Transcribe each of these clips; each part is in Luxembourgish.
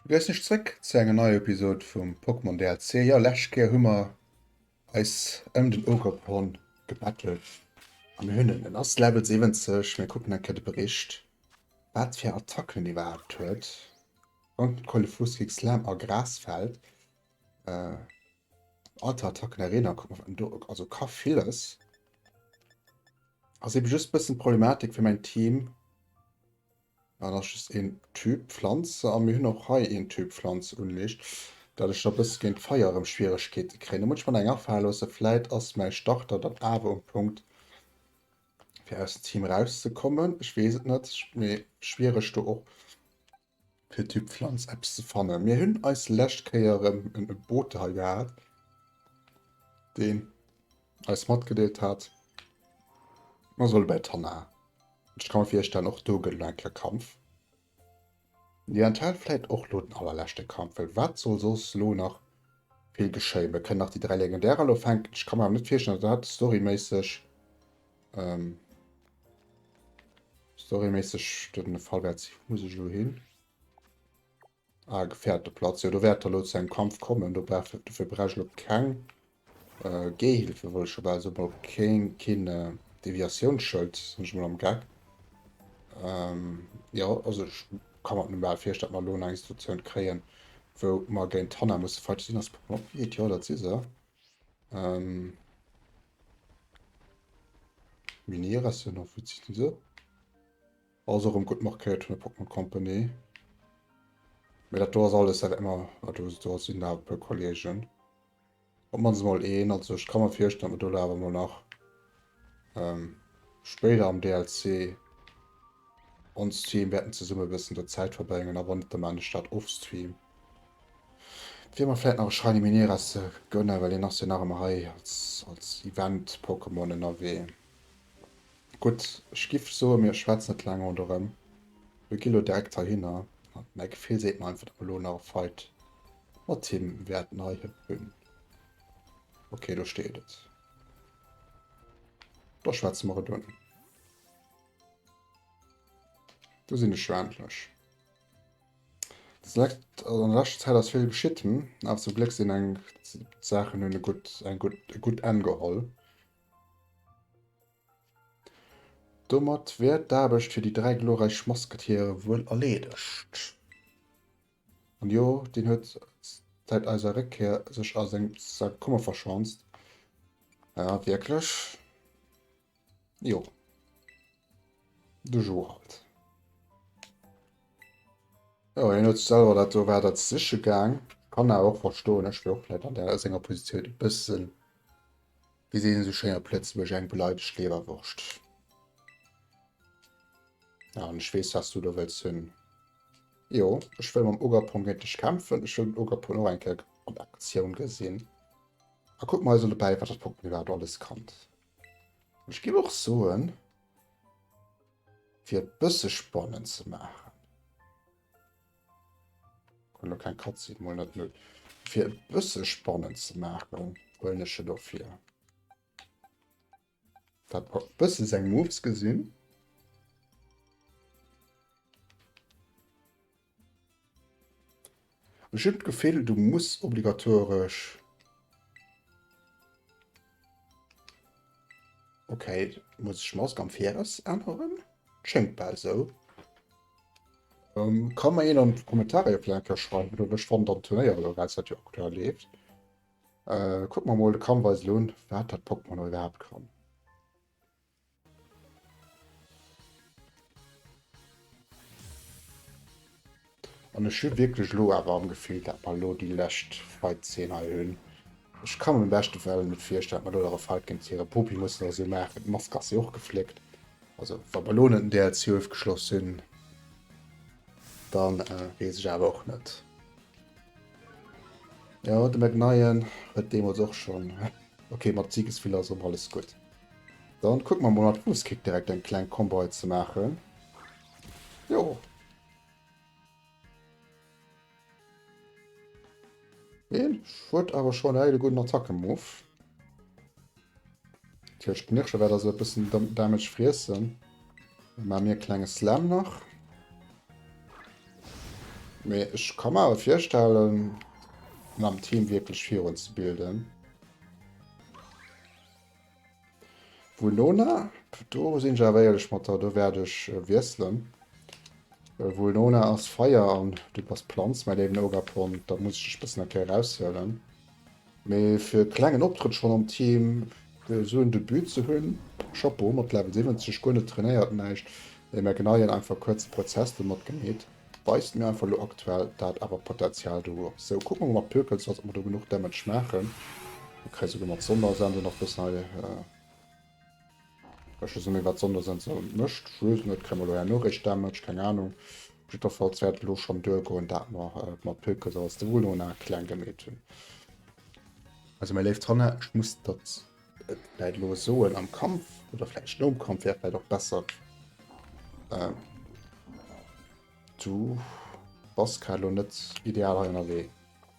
Begréissen iech zréck zu enger neier Episode vum Pokémon DLC. Jo läscht Kéier hu mer eis ëm den Ogerpon gebettelt a mir hunn en. En ass Level 70. Mir kucken eng Kéier de Bericht wat fir Attacken en iwwerhaapt huet. Wann d'Kollefluss géi Slam a Gras fällt, alter Attacken Arena kuck mer do, also ka villes. Ass eben just bëssen d'Problematik fir mäin Team, an ass just een Typ Pflanz an mir hunn och hei een Typ Pflanz unleescht, dat ech da bësse géint d'Feier erëm Schwieregkeete kréien. Da muss ech mer nach eng afale loossen, vläit ass mäi Starter dann awer um Punkt fir aus dem Team rauszekommen, ech weess et net. Mee schwiereg do och. fir d'Typ Pflanz eppes ze fannen. Mir hunn eis lescht Kéier erëm en Ebote hei gehat, deen eis matgedeelt hat, mer solle bei d'Hanna. Ech ka mer virstellen, och do gëtt elo eng Kéier Kampf. Jo, enthält vläit och elo den allerleschte Kampf, well wat soll soss elo nach vill geschéien? Mir kënnen nach déi dräi Legendärer elo fänken. Ech ka mer awer net virstellen, datt dat storyméisseg. Ähm, Storymäßig den Fall wert sich muss ich lo hin. Ah, gefährte Platz. Ja, du wert lo zu einem Kampf kommen. Du brauchst dafür brauchst lo kein äh, Gehhilfe wollte ich aber also mal kein, kein äh, Deviationsschild, sind ich mal am Gag. Ähm, ja, also ich kann man normal vier statt mal lo eine Institution kreen, wo man gegen Tanner muss fight sind das Pokémon. Ja, das ist er. Ähm. Minier ass jo noch witzig diese. Also rem gut markéiert vun der Pokémon Company. Mir dat do ass alles dat immer wat du do sinn da puer Kollegen. Op mannst mol een, also ech kann mer virstellen, datt mer do awer mol nach ähm, spéider am DLC onstream wäerten zesumme bëssen do Zäit verbréngen a wann net, da maan ech dat offstream. Et wier mer vläit nach e Shiny Minera ze gënne well hien ass jo nach ëmmer hei als, als Event-Pokémon ënnerwee. Gutt, ech giff soen, mir schwätzen net laang ronn erëm, mir gi lo direkt heihinner a mäi Gefill seet mer einfach, datt mer elo nach e Fight mat him wäerten hei hunn. Ok, do steet et. Da schwätze mer et un. Du sinn ech jo endlech. Select also an der letzter Zeit ass vill geschitt, hm? Awer zum Glück sinn eng Sachen hunn e gutt eng gutt e gutt Enn geholl. Domat wär d'Aarbecht fir déi dräi glorreich Mosketiere wuel erleedegt. An jo, deen huet säit eiser Réckkehr sech a seng Sack Kummer verschanzt. Ah, wierklech? Jo. De Jo halt. Jo, hien huet selwer dat do, war dat siche gaang. Kann awer och verstoen, ech wier och vläit an der senger Positioun e bëssen, wéi seet een esou schéin op Lëtzebuerg, eng beleidegt Leberwurscht. An ech weess, wat s du do wëlls hunn. Jo, ech wëll mam Ogapon géint dech kämpfen. Ech wëll den Ogapon och eng Kéier an Aktioun gesinn. A kuck mal esou dobäi, wat dat Pokémon iwwerhaapt alles kann. An ech géif och soen, fir et bësse spannend ze maachen, kommen elo keng Cutscene, mol net null, fir et bësse spannend ze maachen, huelen ech e dofir. Dat war bësse seng Moves gesinn. Ech hunn d'Gefill, du muss obligatoresch. Okay, muss ech Mask am Viraus änneren? Schéngt bal esou. Ähm, kann mer een an d'Kommentare jo vläicht ka schreiwen, wéi der lech fannt am Turnéier, oder wéi dat jo aktuell leeft. Äh, kuck mer mol de Kramweisel un, wat dat Pokémon och iwwerhaapt kann. An ech hu wierklech elo awer am Gefill, dat mer elo déi lescht Fight-Zeen hei hunn. Ech ka mer am beschte Fäll net virstellen, dat mer elo nach e Fight géint hire Popi mussen oder esou maachen. D'Mask ass jo och gefléckt. Also, wa mer elo net den DLC ofgeschloss hunn, dann weess ech awer och net. Jo, de McNian huet deemools och schonn. Ok, mat Siegesvilla ass och alles gutt. Dann kucke mer mol mat Fuuskick direkt eng kleng Combo hei ze maachen. Jo. Deen huet awer schonn hei de gudden Attacke-Move. D'Hirsch Knirschen wäert also e bëssen Damage friessen. Dann maache mir e klenge Slam nach. Mee ech ka mer awer virstellen, mam Team wierklech virun ze bilden. Vulnona, do sinn ech awer éierlech mat der, do wäert ech wiesselen. Well Vulnona ass Feier an du bass Planz, mäi léiwen Ogapon, da muss ech dech e bëssen eng Kéier eraushuelen. Mee fir e klengen Optrëtt schonn am Team esou en Debut ze hunn, Chapeau! Mat Level 70 guer net trainéiert, näischt ee mer genei, en einfach kuerze Prozess domat gemeet, weist mir einfach elo aktuell dat awer Potenzial do huet. Sou, kucke mer mol mat Pökelzers, ob mer do genuch Damage maachen. Mir kréie souguer mat Sondersensor nach bëssen hei. Ech wësse net wat sonndes en sou mécht, just net kréie mer elo är Noricht damage, keng Ahnung. Op jiddwerfalls wäert et elo schonn duer goen dat mer et mat Pilkes aus de Vulona kleng gemeet hunn. Also meng léift Hanna, ech muss der et vläit elo soen, am Kampf, oder vläicht nom Kampf, wär vläicht och besser ähm du bass grad elo net ideal hei ënnerwee.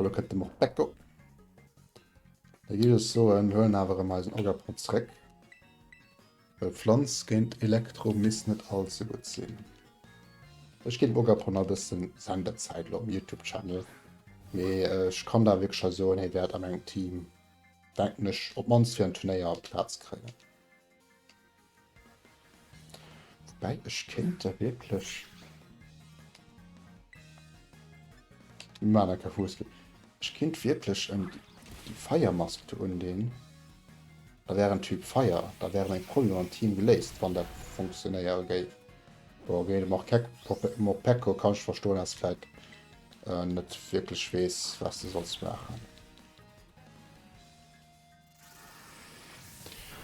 Hallo kënnt dem och Backo. Da gi es so en huelen awer em eisen Oggerpot zréck. Well Pflanz géint Elektro misst net all ze gutt sinn. Ech ginn Oggerpon a bëssen Senderzäit lo am Youtube-Channel. Mee ech kann da wierklech scho soen, hie wäert an engem Team Denken ech op mannst fir en Turnéier Plaz kréien. Woubäi ech kéint der wierklech. Mir maachen da keng Fuesskill. Ech kéint wierklech en déi Feiermask do undinn. Da wär en Typ Feier. Da wäre meng Problemer am Team geléist, wann dat funktionéiere géif. Bon ok, de Morkec Morpeko kann ech verstoen, ass vläit net wierklech weess, wat de solls maachen.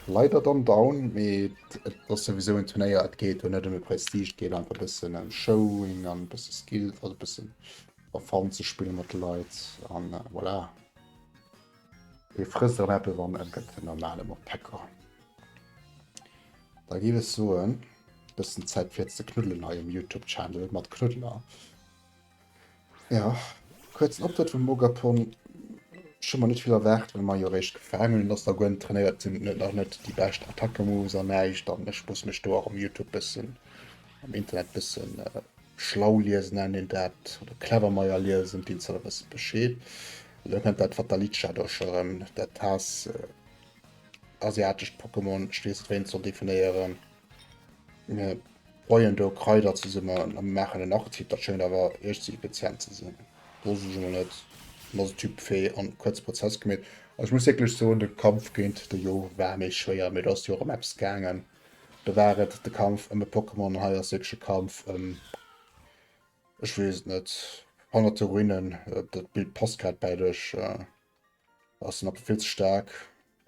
Leider dann down, mee et ass souwisou en Turnéier, et geet do net ëm de Prestige, et geet einfach e bëssen ëm Showing an e bësse Skill, also e bëssen a Fun ze spille mat de Leit an voilà. Ee frësst erëm eppes an e gëtt en normale Moppecker. Da géif ech soen, e bëssen Zäit fir ze knuddelen hei um Youtube-Channel mat Knuddeler. Ja, kuerzen Optrëtt vum Ogapon. Ech hu mer net vill erwaart, well mer jo eréischt gefaangen hunn, dass der Gwen trainéiert sinn, et nach net déi bescht Attacke-Moves an näischt. An ech muss mech do och um Youtube bëssen, am Internet bëssen schlau liesen, nennt een dat, oder clever meier liesen, deelt sech e bësse Bescheed. Elo kënnt dat Fatalica do scho erëm, dat Haass-asiatescht Pokémon, ech weess net, wéi een et soll definéieren. Mir boien do Kraider zesummen a maachen en Artikel. Dat schéngt awer echt ze effizient ze sinn. Do sech emol net. An ass e Typ fee an kuerze Prozess gemeet. Also ech muss wierklech soen, de Kampf géint de Yo war méi schwéier, mee do ass jo och ëm eppes gaangen. Do war et de Kampf ëm e Pokémon an hei ass wierklech e Kampf ëm, ech weess et net, honnerte Ruinen. Dat Bild passt grad bäi dech. Ass den Apel vill ze staark?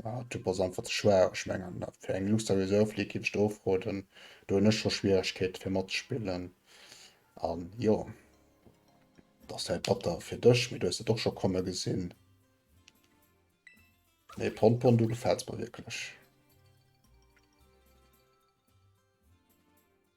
Ah, Typ ass einfach ze schwaach. Ech mengen äh, fir eng Luster Reserve League géif ech der ofroden. Do hunn ech scho Schwieregkeete fir matzespillen. An jo, dat ass wäit batter fir dech, mee du hues et och scho komme gesinn. Nee, Ponpon, du gefällts mer wierklech.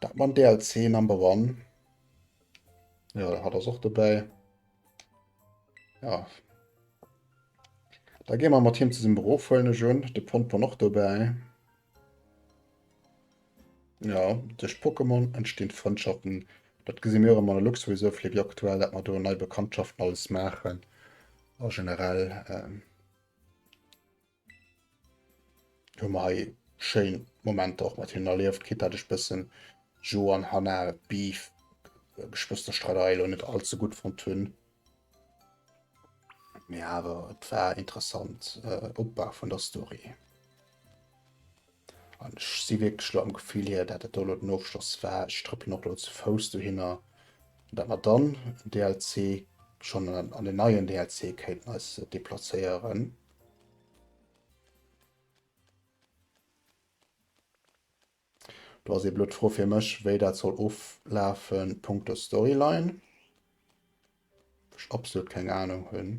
Dat mam DLC Number One. Ja, da hat ass och dobäi. Ja. Da gehen wir mat him zesumme rofhuelen ech un. De Pompon och dobäi. Ja, duerch Pokémon entstehen Frëndschaften. Dat gesi mir immer an der Luxury so fir aktuell, dat man do nei Bekanntschaften alles machen. A generell. Ähm, Hun mer hei schéin Momenter och mat hinnen erliewt, quitte dat ech bëssen Joe an Hannah Beef Geschwësterstreiderei lo net all ze gudd fonnt hun. Mee awer et war interessant äh, Opbau vun der Story. An ech si wierklech lo am Gefill hier, dat dat do lo den Ofschloss war. Ech trëppelen och lo ze Fouss dohinner, dat mer dann den DLC schon an den neien DLC kéinten eis deplacéieren. Do ass ee blöd Fro fir mech, wéi dat soll oflafen punkto Storyline. Ech absolut keng Ahnung hunn.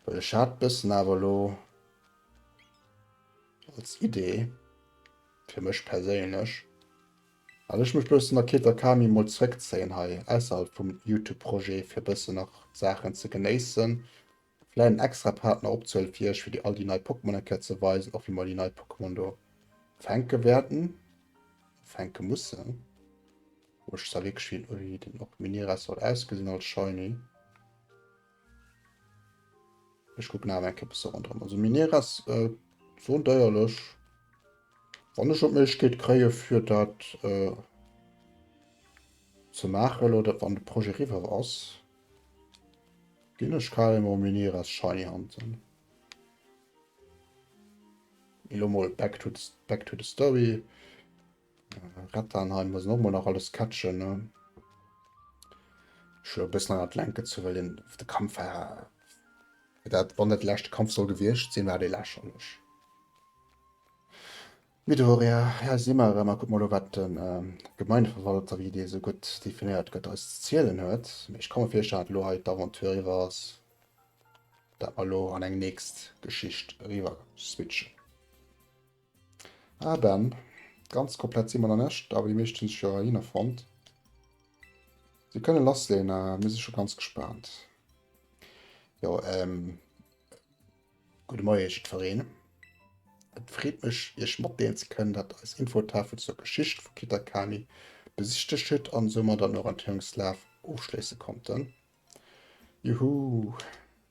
Well ech hat bëssen awer lo als Idee fir mech perséinlech. An ech mech bessen a Keta Kami mol zréckzéien hei ausserhalb vum Youtube Projet fir bessen nach Saachen ze genéissen, vläit en extra Part nach opzehuelen fir iech fir déi all déi nei Pokémon eng Kéier ze weisen, och wéi mer déi nei Pokémon do fänke wäerten, fänke mussen. Ech sa wierklech wéi den och Miniras soll ausgesinn als Shiny. Ech kucken awer eng Kéier bis se ronderëm. Also Miniere ass esou deierlech. Wann ech och d'Méiglechkeet kréie fir dat ze maachen, elo dat wann de Projet eriwwer ass, ginn ech carrément Miniere ass Shiny Hunten. Elo mol back to the story. Rettern hei muss normal nach alles catchen ne schon bis nach lenken zu well den de Kampf war dat wann net lächte Kampf soll gewircht sinn war de lächerlech Midoriya hei si mer erëm a kuck mol wat den ähm Gemeindeverwalter wéi dee sou gutt definéiert gëtt eis ze zielen huet mee ech ka mer virstellen dat elo hei d'Aventure iwwer ass dat mer elo an eng nächst Geschicht eriwwer switchen. Ah Ben, ganz komplett si mer nach nèscht, awer déi meescht hunn sech jo eriwwer fonnt. Mir kënnen lass leen, mir si scho ganz gespaant. Jo ehm, gudde Moie jiddwereen. Et freet mech iech matdeelen ze kënnen, dat eis Infotafel zur Geschicht vu Kitakami besichtegt hutt an soumat an Orientéierungslaf ofschléisse konnten. Juhuu!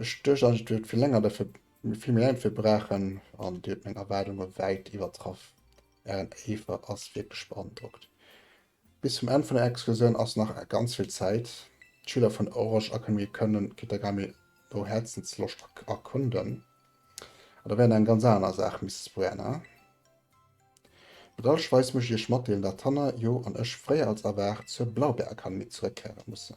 Ech duecht eigentlech du huet vill länger derfir vill méi lang fir braachen an dir huet meng Erwaardunge wäit iwwertraff. Ären Eefer ass wierklech beandrockt. Bis zum Enn vun der Excursioun ass nach ganz vill Zäit. D'Schüler vun Orge Akademie kënnen Kitagami no Häerzensloscht erkunden. An da wäert eng ganz aner Saach misst sprayen, ha? Bedauerlecherweis muss ech iech matdeelen, dat d'Hanna, Jo an ech fréier als erwaart zur Blaubeerakademie zeréckkéiere mussen.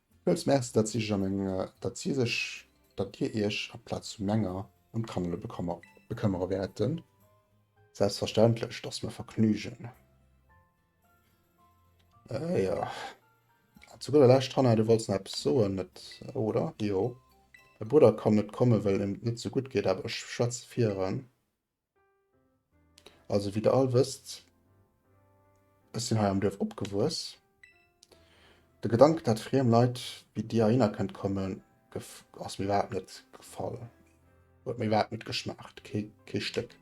Villmools Merci, datt si sech a meng, datt si sech, datt Dir Iech a Plaz vu menger ëm d'Kannerle bekëmmer, bekëmmere wäerten. Selbstverständlech, et ass mer e Vergnügen. Äh, jo. An zu gudder Lescht, Hanna, du wollts nach eppes soen, net, oder? Jo. Mäi Brudder kann net kommen, well him et net sou gutt geet, awer ech schwätze fir en. Also wéi der all wësst, ech sinn hei am Duerf opgewuess. De Gedanken, dat friem Leit wéi dir heihinner kënnt kommen, ass mir iwwerhaapt net gefall. Huet mir iwwerhaapt net geschmaacht, kee, kee Stéck.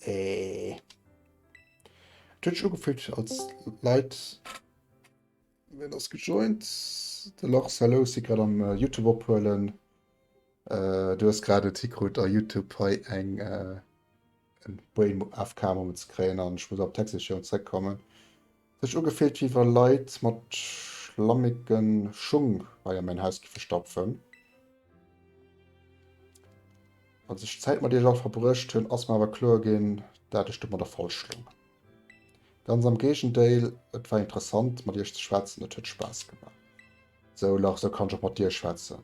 Et huet sech ugefüllt, als Leit. Ween ass gejoint? De Lars, hello, si grad am Youtube ophuelen. Du hues grad et hikrut a Youtube hei eng en Brain AFK Moment ze kréien an ech muss op d'Hacksession zréck kommen. Et huet sech ugefillt wéi wa Leit mat schlammegen Schung hei an mäin Haus giffe stapfen. Als ech Zäit mat iech all verbruecht hunn ass mer awer kloer ginn dat ech domadder falsch loung. Ganz am Géigendéil, et war interessant mat iech ze schwätzen, et huet Spaass gemaach. Sou Lars, sou kann ech och mat dir schwätzen.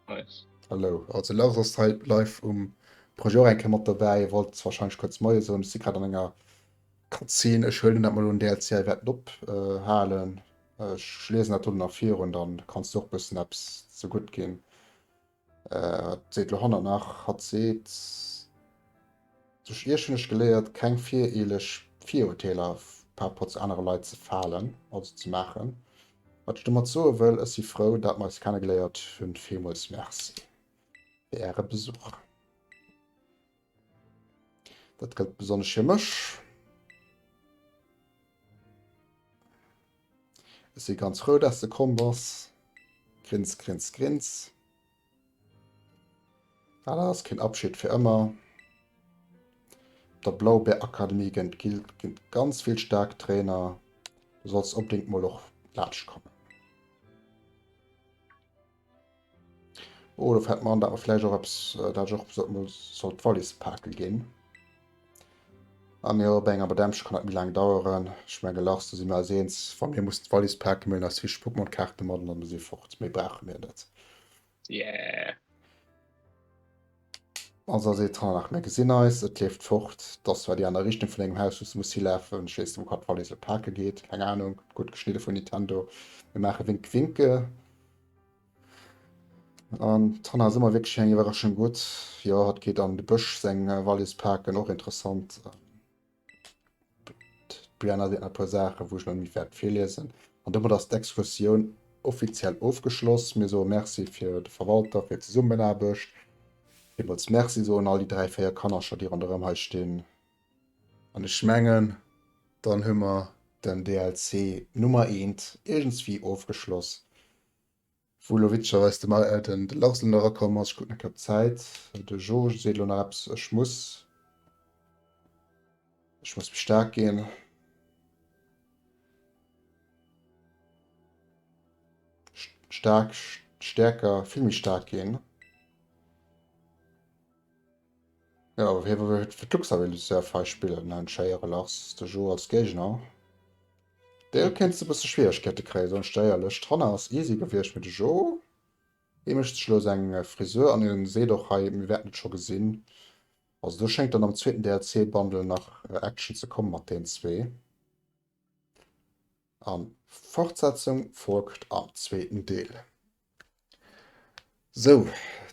Nice. Hallo, also Lars ass hei live um Projet och eng Kéier mat dobäi, wollt warscheinlech kuerz Moie soen. Ech si grad an enger Cutscene, ech huelen dat mol un DLC a wäert et ophalen. Ech liesen dat dono nach virun, da kanns du och bëssen eppes ze gutt ginn. Wat seet lo Hanna nach? Hatt seet, Duerch Iech hunn ech geléiert, keng vireeleg Virurteeler par Rapport zu anere Leit ze falen, also ze maachen. Wat ech domat soe wëll, ech si frou, dat mer eis kennegeléiert hunn. Villmools Merci fir Äre Besuch. Dat gëllt besonnesch fir mech. Ech si ganz frou, dass de komm bass. Grins, grins, grins. Ah, dat ass keen Abschied fir ëmmer. Der Blaubeer Akademie gënnt gilt gënnt ganz vill staark Trainer. Du solls opdéngt mol och laanscht kommen. Oh, da fällt mir an, dass wir vielleicht auch etwas, äh, dass ich auch so, mal soll die Wallis packen gehen. Ah, mir op enger Bademsche kann dat mi lang daueren. Ech menge lachs du si mir als eens wann mir muss d'Wallis pake mellen als Fisch Pokémon-Kaarte mat an dann si fort. Méi brauche mir net. Yeah. Also ass ee Train nach, mä gesinn eis, et leeft fort. Et ass zwar déi aner Richtung vun engem Haus, wou s de muss hilafen. Ech weess net, wou hatt d'Wallis elo pake geet, keng Anung. Gutt geschnidde vun Nintendo. Mir maache Wink Winke. An d'Hanna ass ëmmer wierklech eng Iwwerraschung gutt. Jo, hatt geet an de Bësch seng Wallis paken, och interessant. D'Brianne hat e puer Saachen, wou ech net méi wäert virliesen. An domat ass d'Exkursioun offiziell ofgeschloss. Mir soe Merci fir de Verwalter fir d'Zesummenaarbecht. Villmools Merci soen all déi dräi, véier Kannercher, déi ronderëm hei stinn. An ech mengen, dann hu mer den DLC Nummer eent iergendswéi ofgeschloss. Wou lo witzegerweis de Mal Elton de Larsen erakomm ass, ech kucken eng Kéier op d'Zäit, de Jo seet elo nach eppes, ech muss, ech muss méi staark ginn. Staark, stäerker, vill méi staark ginn. Ja, hie wëll fir d'Luxavilles Reserve hei spillen, den Scheiere Lars, de Jo als Géigner. D'Béll kéint se bësse Schwieregkeete kréie soen ech dir éierlech. D'Hanna ass easy gewiescht, mee de Jo dee mécht sech elo seng Frisur an en seet och hei, mir wäerten et scho gesinn. Also do schéngt dann am zweeten DLC-Bundle nach Action ze komme mat deenen zwee. A Fortsetzung folgt am zweeten Deel. Sou,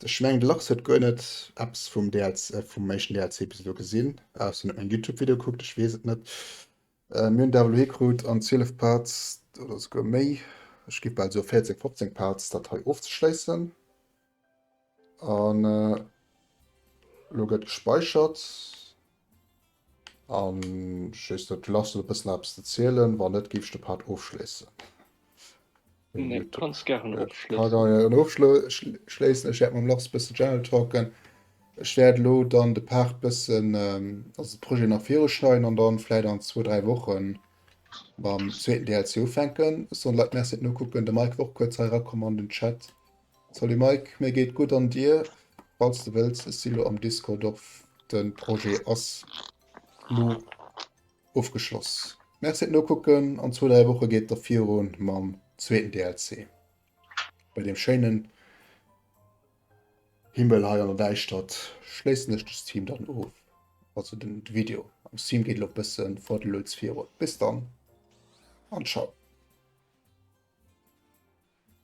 ech mengen de Lachs huet guer net eppes vum DLC, vum éischten DLC bis elo gesinn, ausser en huet mäin Youtube Video kuckt, ech weess et net. Mir hunn Devil May Cry krut an 12 Parts oder souguer méi, ech géif bal soe 14, 15 Parts dat hei ofzeschléissen. An elo gëtt gespeichert. An just et lass net e bëssen eppes ze zielen, wann net géif ech de Part ofschléissen. Nee du kanns gären ofschléissen. Ech wäert mam Lars e bësse General Talken. Ech wäert elo dann de Part bëssen, also de Projet nach viru schneiden an dann vläit an zwou dräi Woche mam zweeten DLC ufänken. Soen d'Leit merci fir d'Nokucken. De Mike war och kuerz hei erakomm an den Chat. Salut Mike, mir geet gudd an dir? Falls de wëlls, ech si lo am Discord of, den Projet ass lo ofgeschloss. Merci et nokucken, an zwou dräi Woche geet da virun mam zweeten DLC bei dem schéinen Himmel hei an der Däischtert. Schléissen ech de Stream dann of, also den Video am Stream geet lo bëssen for the lueds virun. Bis dann an ciao.